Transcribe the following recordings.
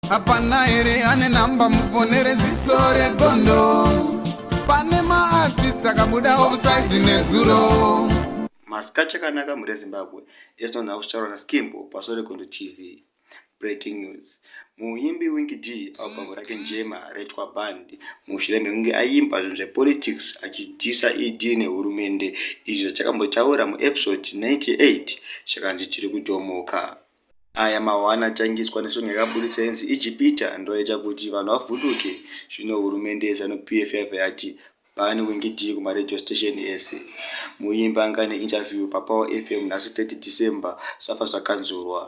hapana here ane namba mufonere ziso regondo pane maartist akabuda offside nezuro masika chakanaka mhuri yezimbabwe esinonha kusharo naskimbo paso regondo tv breaking news muimbi wingi d albhamu rake njema retwa band mushure mekunge aimba zvinhu zvepolitics achidhisa ed nehurumende izvi zvachakambotaura muepisode 98 zvakanzi tiri kudhomoka Aya mahwani atangiswa nesong yakaburitsa inzi Ijipita ndoyaita kuti vanhu vavhunduke zvino hurumende yeZanu PF yabva yati bhani wingidii kumaradio station ese. Muimbi anga ane interview paPower FM nhasi 30 December zvafa zvakanzurwa.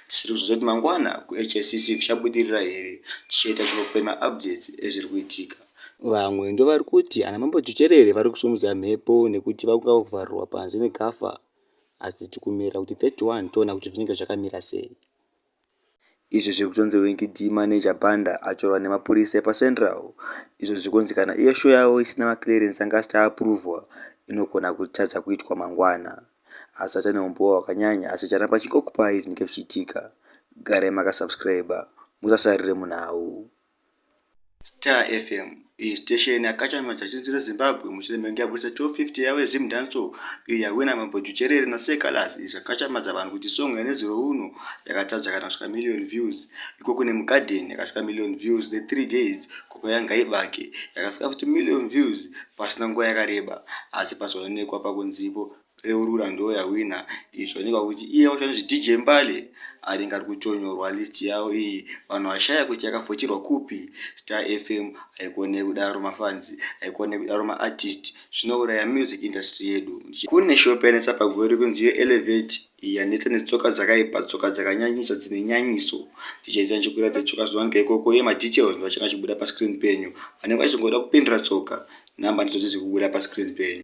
Tichiri kuzonzwa kuti mangwana kuHSCC zvichabudirira here tichaita chikopo pemaupdates ezviri kuitika. Vamwe ndovari kuti ana Mambo Tuterere vari kusimudza mhepo nekuti vakungava kuvharirwa panze neGAFA. asi tikumira kuti 31 toona kuti zvinenge zvakamira sei. Izvi zviri kutonzi Winky Dee maneja Banda atorwa nemapurisa epaCentral izvo zviri kunzi kana iyo show yavo isina maclearance anga asati aapruvhwa inogona kutadza kuitwa mangwana. Asi aita neumbowo hwakanyanya asi charamba chingokupai zvinenge zvichiitika. Garai makasubscriber musasarire munhau. Star FM iyi station yakachamisa zinzi reZimbabwe mushure mekunge yabudisa 1250 yavo yeZim Dancehall iyo yahwina mambo Jucherere naSir Calaz izvo zvakachamadza vanhu kuti song yanezuro uno yakatadza kana kusvika million views iko kune mugarden yakasvika million views the three days koko yangaibake yakasvika futi million views pasina nguva yakareba asi pazoonekwa pakunzipo Reurura ndo ya winner iyi zvaonekwa kuti iye wacho anonzi DJ Mbale ari ngari kuchonyorwa list yawo iyi vanhu vashaya kuti yakavhotirwa kupi Star FM haikone kudaro mafans haikone kudaro maartist zvinouraya music industry yedu kune shop yanetsa pagori kunzi yo elevate iyi yanetsa netsoka dzakaipa tsoka dzakanyanyisa dzine nyanyiso tichaita ndichikuira dzetsoka zvawanika ikoko iye madetails ndovachanga achibuda pascreen penyu vanenge vachingoda kupindira tsoka number ndidzo dziri kubuda pascreen penyu